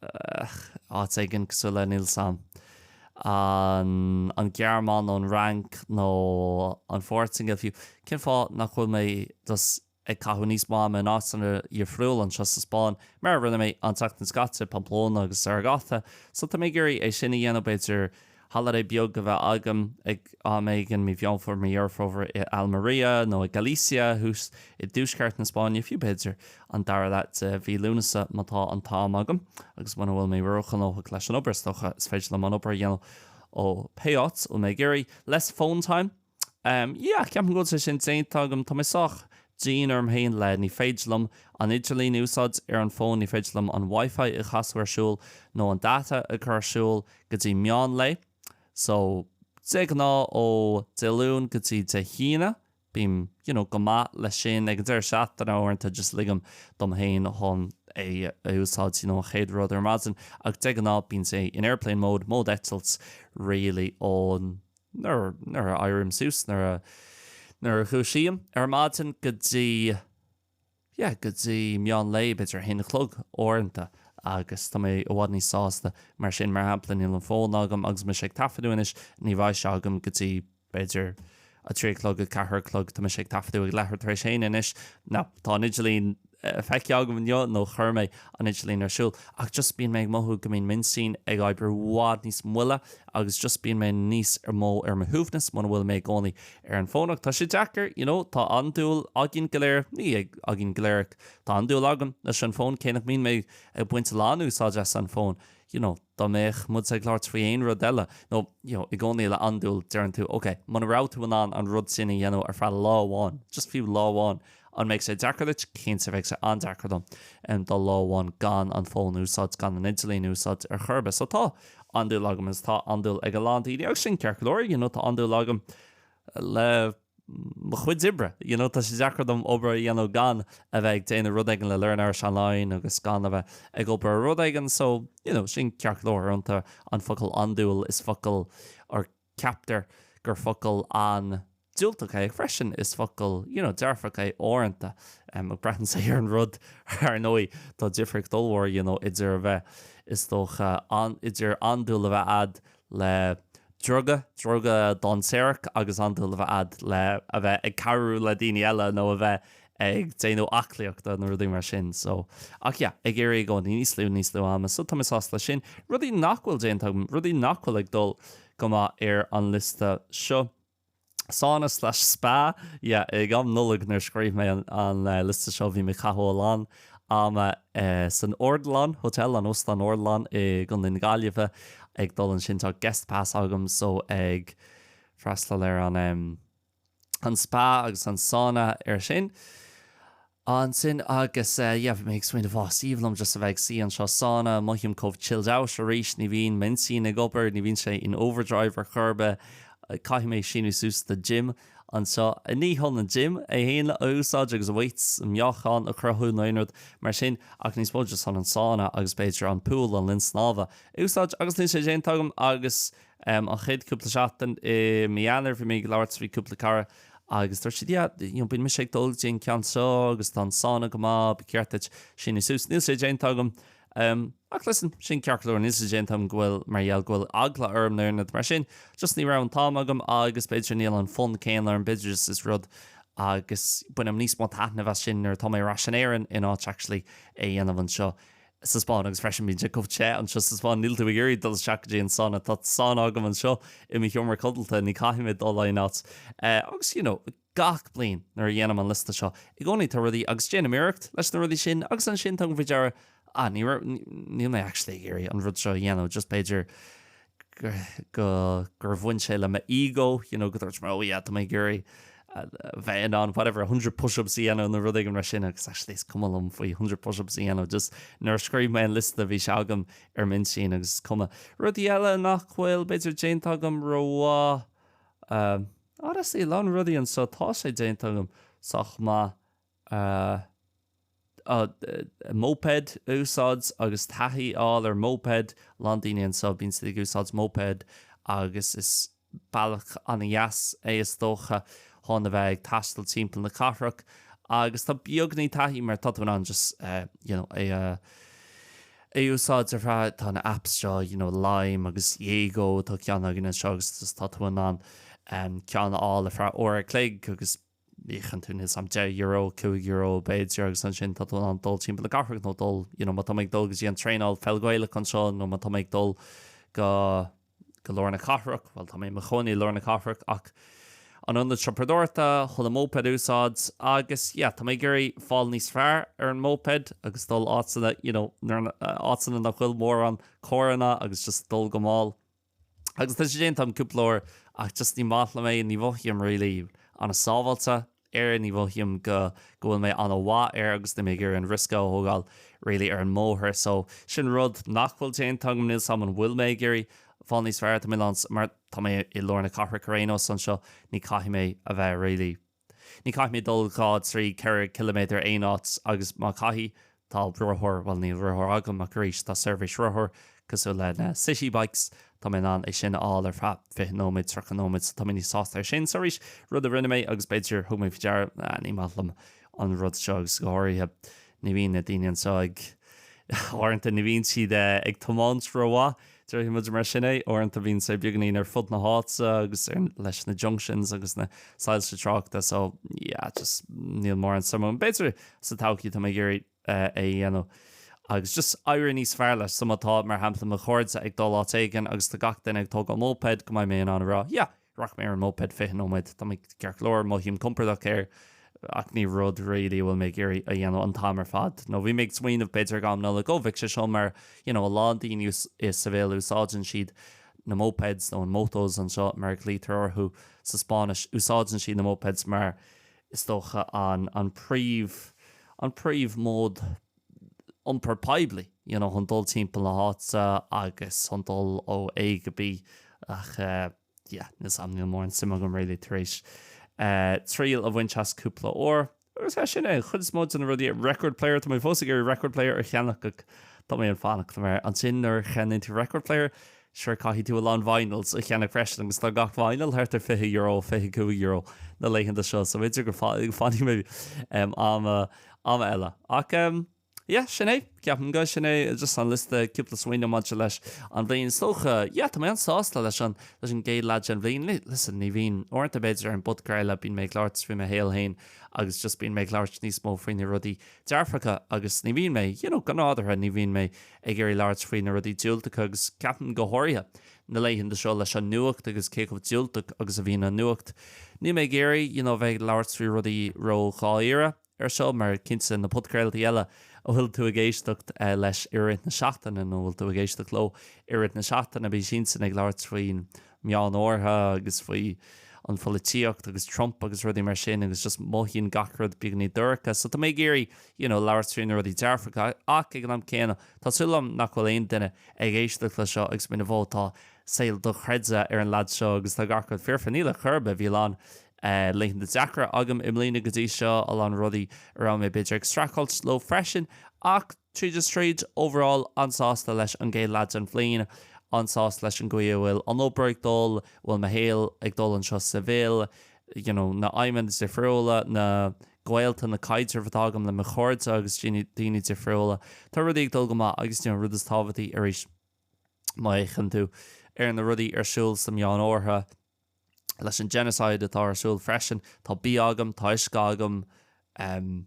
áit éigin cosúil le níl a fhios agam, an Ghearmáin nó an Fhrainc nó an Phortaingéil fiú. Cén fáth nach bhfuil mé just ag caitheamh níos mó ama in áiteanna dhifriúla anseo sa Spáinn, mar a rinne mé an tseachtain seo caite, Pamplona agus Zaragoza? So tá mé ag iarraidh é sin a dhéanamh b'fhéidir. holiday beag a bheith agam ag am éigin, mí Mheán Fómhair, mí Dheireadh Fómhair i Almeria nó i Galicia thuas i dtuaisceart na Spáinne, fiú b'fhéidir an dara leath de mhí Lúnasa má tá an t-am agam agus muna bhfuil mé róghnóthach leis an obair. Is dócha is féidir liom an obair a dhéanamh ó pé áit a bhfuil mé ag iarraidh. Less phone time. Um, yeah, ceapaim go bhfuil sé sin déanta agam. Tá mé sách dian orm féin like ní féidir liom an idirlíon a úsáid ar an bhfón, ní féidir liom an Wi-Fi a chasadh ar siúl nó an data a chur ar siúl go dtí meán lae. So, de ghnáth ó Dé Luain go dtí Dé hAoine, bím, you know, go maith leis sin. Ag an deireadh seachtaine uaireanta just ligim dom féin chun é a úsáid, you know, an chéad rud ar maidin. Ach de ghnáth bíonn sé in airplane mode, mód eitilt really ón nuair a éirím suas, nuair a, nuair a dhúisím ar maidin go dtí, yeah, go dtí meán lae, b'fhéidir a haon a chlog uaireanta agus tá mé i bhfad níos sásta mar sin. Mar shampla, níl an fón agam agus mise ag taifeadadh anois, ní bheidh sé agam go dtí, b'fhéidir, a trí a chlog, a ceathair a chlog. Tá mise ag taifeadadh ag leathuair tar éis a haon anois. Now, tá an idirlíon. feicthe agam inniu nó chuir mé an idirlíon ar siúl ach just bíonn mé ag mothú go mbíonn m'intinn ag oibriú i bhfad níos moille agus just bíonn mé níos mó ar mo shuaimhneas muna bhfuil mé i gcónaí ar an bhfón ach tá sé deacair you know tá andúil againn go léir ní ag againn go léir ach tá andúil agam leis an bhfón cé nach mbíonn mé ag baint a lán úsáid as an bhfón you know dá mbeadh muid ag labhairt faoi aon rud eile nó you know i gcónaí le andúil deireann tú ok muna raibh tú in ann an rud sin a dhéanamh ar feadh lá amháin just fiú lá amháin An mbeidh sé deacair duit? Cinnte bheidh sé an-deacair dom dul lá amháin gan an fón a úsáid, gan an idirlíon a úsáid ar chor ar bith. So tá andúil agam is tá andúil ag a lán daoine agus sin ceart go leor, you know, tá andúil agam le mo chuid oibre, you know, tá sé deacair dom obair a dhéanamh gan a bheith ag déanamh rud éigin le Learn Irish Online agus gan a bheith ag obair ar rud éigin so, you know, sin ceart go leor. Uaireanta an focal andúil is focal or Ceaptar gur focal an-diúltach é freisin, is focal, you know, dearfach é uaireanta. Ah braitheann sé ar an rud, ar ndóigh, tá difríocht ollmhór, you know, idir a bheith, is dócha, an, idir andúil a bheith a'd le druga, druga dainséarach agus andúil a bheith a'd le, a bheith ag cabhrú le daoine eile nó a bheith ag déanamh aclaíochta nó rudaí mar sin so ach yeah ag iarraidh i gcónaí níos lú níos lú ama so tá mé sásta leis sin. Rudaí nach bhfuil déanta agam, rudaí nach bhfuil ag dul go maith ar an liosta seo. Sauna slash spa, yeah ag am Nollaig nuair a scríobh mé an an liosta seo bhí mé ag caitheamh a lán ama san Ardilaun Hotel, an Óstán Ardilaun i gContae na Gaillimhe ag dul ansin tá guest pass agam so ag freastal ar an em. an spa agus an sauna ar sin. Ansin agus yeah, mé ag smaoineamh ó ba bhreá liom just a bheith ag suí anseo sauna, mothaím chomh chilled out arís, ní bhíonn m'intinn ag obair, ní bhíonn sé in overdrive ar chor ar bith, caithfidh mé síniú suas do gym anseo. Ní chun an gym é fhéin a úsáid agus weights, meáchan a chruthú nó aon rud mar sin ach níos mó just chun an sauna agus b'fhéidir an pool, an linn snámha, a úsáid agus níl sé déanta agam agus An chéad cúpla seachtain i mí Eanáir bhí mé ag labhairt le cúpla cara agus dúirt siad yeah, you know, bíonn mise ag dul go dtí an ceann seo agus tá an sauna go maith, ba cheart duit síniú suas. Níl sé déanta agam. Um, ach listen, sin ceart go leor, níl sé déanta agam go bhfuil, mar gheall go bhfuil eagla orm nó aon rud mar sin, just ní raibh an t-am agam agus b'fhéidir níl an fonn céanna orm, b'fhéidir is is rud agus bainim níos mó taitnimh as sin nuair atá mé ar ais in Éirinn in áit actually é dhéanamh anseo. sa Spáinn agus freisin bíonn sé chomh te anseo sa Spáinn níl tú ag iarraidh dul isteach go dtí an sauna tá sauna agam anseo i mo sheomra codalta ní caithfidh mé dul aon áit agus you know gach bliain nuair a dhéanaim an liosta seo i gcónaí tá rudaí agus déanaim iarracht leis na rudaí sin agus ansin tugaim faoi deara ah ní raibh níl mé actually ag iarraidh an rud seo a dhéanamh just b'fhéidir go, gur bhain sé le mo ego, you know, go ndúirt mé oh yeah, tá mé ag iarraidh bheith in ann whatever, 100 push-ups a dhéanamh nó rud éigin mar sin agus actually is cuma liom faoi 100 push-ups a dhéanamh, just nuair a scríobh mé an liosta bhí sé agam ar m'intinn agus is cuma. Rudaí eile nach bhfuil b'fhéidir déanta agam rómhaith honestly, a lán rudaí anseo tá sé déanta agam sách maith a moped a úsáid agus taithí a fháil ar moped. A lán daoine anseo, bíonn siad ag úsáid moped agus is bealach an-deas é is dócha chun a bheith ag taisteal timpeall na cathrach agus tá beagáinín taithí mar tá tú in ann just you know é a úsáid ar feadh, tá na apps seo you know Lime agus Yego, tá ceann againn anseo agus just tá tú in ann ceann a fháil ar feadh uair a chloig agus íocann tú níl 's a'm €10, €5 b'fhéidir agus ansin tá tú in ann dul timpeall na cathrach nó dul you know má tá mé ag dul go dtí an traenáil pheil Ghaelach anseo nó má tá mé ag dul go go lár na cathrach bhuel tá mé i mo chónaí i lár na cathrach ach an ionad siopadóireachta chun an moped a úsáid agus yeah tá mé ag iarraidh fáil níos fearr ar an moped agus dul áiteanna you know áiteanna nach bhfuil mórán carranna agus just dul go mall. Agus tá sé déanta agam cúpla uair ach just ní maith liom é, ní mhothaím really an-sábháilte air, ní mhothaím go go bhfuil mé an-mhaith air agus níl mé ag iarraidh an riosca a thógáil really ar an mbóthar. So sin rud nach bhfuil déanta agam, níl 's agam an bhfuil mé ag iarraidh fáil níos fearr tá mé i lár mar tá mé i lár na cathrach ar aon nós anseo ní caithfidh mé a bheith really. Ní chaithfidh mé dul dhá, trí, ceithre chiliméadar aon áit agus má chaithfidh, tá rothar, bhuel níl rothar agam ach arís tá seirbhís rothar cosúil le na City Bikes, tá mé in ann é sin a fháil ar feadh fiche nóiméad, tríocha nóiméad so tá mé níos sásta ar sin. So arís, rud a rinne mé agus b'fhéidir, thug mé faoi deara, ah ní maith liom an rud seo agus go háirithe. Ní bhíonn na daoine anseo ag. Uaireanta ní bhíonn siad ag tiomáint rómhaith, déarfaidh muid mar sin é. Uaireanta bíonn sé beagáinín ar fud na háite agus leis na junctions agus na soilse tráchta so yeah just níl mórán suim a'm. B'fhéidir sa todhchaí tá mé ag iarraidh eh, é a dhéanamh agus just éirí níos fearr leis so má tá mar shampla mo chairde ag dul áit éigin agus tá gach duine ag tógáil moped go mbeidh mé in ann a rá yeah, Rachaidh mé ar an moped 20 nóiméad. Tá mé ceart go leor, mothaím compordach air, ach ní rud really a bhfuil mé ag iarraidh a dhéanamh an t-am ar fad. Nó bhí mé ag smaoineamh, b'fhéidir ag am Nollag, oh, bheadh sé seo mar, you know, a lán daoine i Seville úsáideann siad na mopeds nó an motos anseo mar a ghlaoitear orthu sa Spáinnis, úsáideann siad na mopeds mar is dócha an, an príomh, an príomh mode. iompar poiblí, you know chun dul timpeall na háite agus chun dul ó A go B ach eh yeah níl 's a'm níl mórán suim agam really tar éis eh triail a bhaint as cúpla uair agus eh sin é an chuid is mó de na rudaí, record player tá mé fós ag iarraidh record player a cheannach ach tá mé ag fanacht mar ansin nuair a cheannaíonn tú record player, Sure, caithfidh tú a lán vinyls a cheannach freisin agus tá gach vinyl thart ar fiche euro, fiche cúig euro na laethanta seo, so b'fhéidir go fanfaidh mé am am eile. Ach em, yeah, sin é, ceapaim go sin é just an liosta cúpla smaoineamh maidir leis an bhliain. Is dócha, yeah, tá mé an sásta leis an leis an gcéad leath den bhliain. Listen, ní bhíonn uaireanta b'fhéidir ar an bpodcraoladh bíonn mé ag labhairt faoi mo shaol féin agus just bíonn mé ag labhairt níos mó faoi na rudaí dearfacha agus ní bhíonn mé, you know, go nádúrtha ní bhíonn mé ag iarraidh labhairt faoi na rudaí diúltacha agus ceapaim go háirithe na laethanta seo leis an nuacht agus cé chomh diúltach agus a bhíonn an nuacht, níl mé ag iarraidh you know bheith ag labhairt faoi rudaí ró-dháiríre ar seo mar cinnte na podchraoltaí eile a bhfuil tú ag éisteacht leis i rith na seachtaine nó a bhfuil tú ag éisteacht leo i rith na seachtaine bíonn siadsan ag labhairt faoin meánoirthear agus faoin bpolaitíocht agus Trump agus rudaí mar sin agus just mothaíonn gach rud beagainín dorcha so tá mé ag iarraidh you know labhairt faoi na rudaí dearfacha ach ag an am céanna tá súil agam nach bhfuil aon duine ag éisteacht le seo agus mar ó tá saol dochreidte ag an lead seo agus tá gach rud foirfe níl ar chor ar bith bhí a lán laethanta deacra agam i mbliana go dtí seo a lán rudaí a raibh mé b'fhéidir ag streachailt leo freisin ach Tríd is tríd, overall, an-sásta leis an gcéad leath den bhliain, an-sásta leis an gcaoi a bhfuil an obair ag dul, a bhfuil mo shaol ag dul anseo sa Bhrasaíl, you know, na aidhmeanna difriúla, na gaolta, na caidrimh atá agam le mo chairde agus daoine difriúla. Tá rudaí ag dul go maith agus, you know, an rud is tábhachtaí arís má fhéachann tú ar na rudaí ar siúl sa Meánoirthear leis an genocide atá ar siúl freisin, tá bia agam, tá uisce agam, you.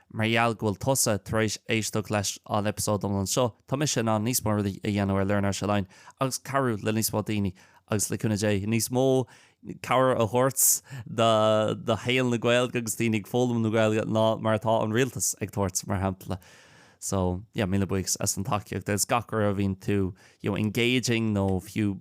Mar gheall go bhfuil tusa tar éis éisteacht leis an eipeasóid iomlán seo, tá mise in ann níos mó rudaí a dhéanamh ar Learn Irish Online agus cabhrú le níos mó daoine agus, le cúnamh Dé, níos mó cabhair a thabhairt do shaol na Gaeilge agus daoine ag foghlaim na Gaeilge ná mar atá an rialtas ag tabhairt, mar shampla. So, yeah, míle buíochas as an tacaíocht agus gach uair a bhíonn tú, you know, engaging nó fiú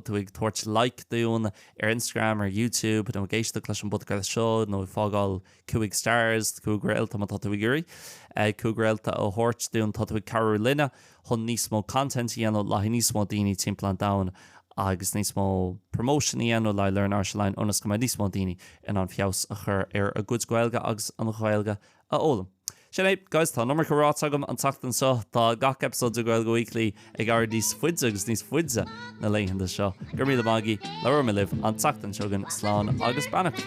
tú ag tabhairt like dúinn ar Instagram, ar YouTube nó ag éisteacht leis an bpodchraoladh seo nó ag fágáil, Cúig stars, Cúig réalta má tá tú ag iarraidh 5 réalta a thabhairt dúinn, tá tú ag cabhrú linne chun níos mó content a dhéanamh le haghaidh níos mó daoine timpeall an domhain agus níos mó promotion a dhéanamh le haghaidh Learn Irish Online ionas go mbeidh níos mó daoine in ann feabhas a chur ar a gcuid Gaeilge agus an Ghaeilge a fhoghlaim. Sin é, guys, tá an iomarca ráite agam an tseachtain seo. Tá gach eipeasóid de Gaeilge Weekly ag éirí níos faide agus níos faide na laethanta seo. Go raibh míle maith agaí. Labhróidh mé libh an tseachtain seo chugainn. Slán agus beannacht.